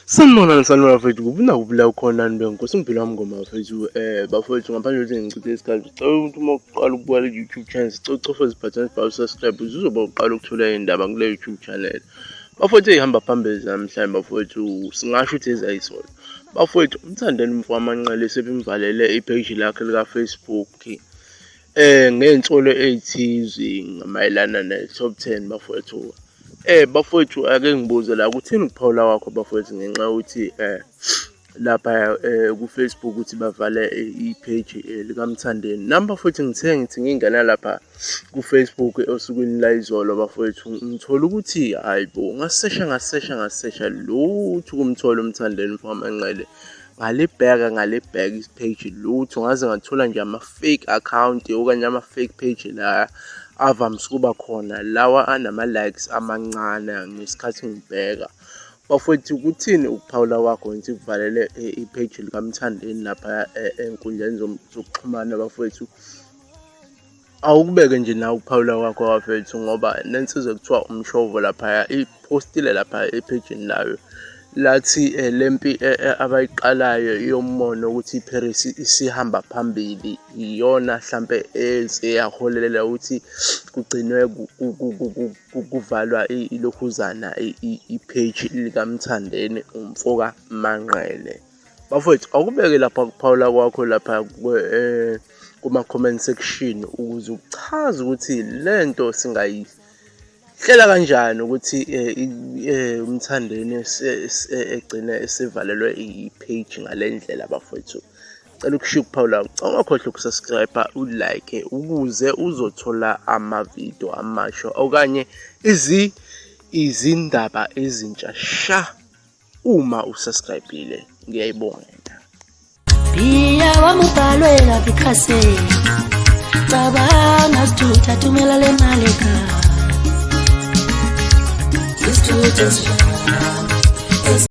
Sanibona nisanibona bafethu kuphi nakuphi la ukhona nto nkosi ngiphila wami ngoma bafethu um eh, bafethu ngaphandle kokuthi ngichithe isikhathi cela ukuthi uma uqala ukubukela i-youtube channel sicela ucofa zibhathane sibhawu subscribe uzoba uqala ukuthola iy'ndaba kule youtube channel bafowethu eyihamba phambili zamhlanje bafowethu singasho ukuthi ezayisona Bafowethu umthandeni mfamanqele sebimvalele ipage lakhe lika-Facebook eh ngey'nsolo ey'thize mayelana ne-top ten bafowethu eh bafowethu ake ngibuze la kuthini ukuphawula kwakho bafowethu ngenxa yokuthi eh lapha eh, ku-Facebook ukuthi bavale ipage eh, likamthandeni nami bafowethu ngithe ngithi ngingena lapha kufacebook osukwini layizolo bafowethu ngithola ukuthi hayi bo ngasesha ngasesha ngasesha lutho ukumthola umthandeni mfamanqele ngalibheka ngalibheka isipage lutho ngaze ngathola nje ama-fake account okanye ama-fake page la avamise ukuba khona lawa anama-likes amancane ngesikhathi ngibheka bafowethu kuthini ukuphawula kwakho ngithi kuvalele eh, ipage likamthandeni lapha eh, enkundleni zokuxhumana bafowethu awukubeke nje nawe ukuphawula kwakho wafethu ngoba nensizwa kuthiwa umshovo laphaya iphostile lapha ephejini layo lathi eh, le mpi eh, eh, abayiqalayo yommono ukuthi iParis isihamba phambili iyona hlampe eyaholelela ukuthi kugcinwe kuvalwa ilokhuzana ipage likaMthandeni umfoka Manqele bafowethu awukubeke lapha kuphawula kwakho lapha eh, kuma-comment section ukuze uchaze ukuthi le nto singayihlela kanjani ukuthi eh, eh, umthandeni egcine esivalelwe i-page ngale ndlela bafowethu cela ukushiya ukuphawula ungakhohlwa ukusubscribe ulike ukuze uzothola amavidiyo amasha okanye izi izindaba ezintsha sha uma usubscribile ngiyayibonga nta Biya wamubhalwe laphi khase Cabanga sithutha thumela le mali ka Sithutha sithutha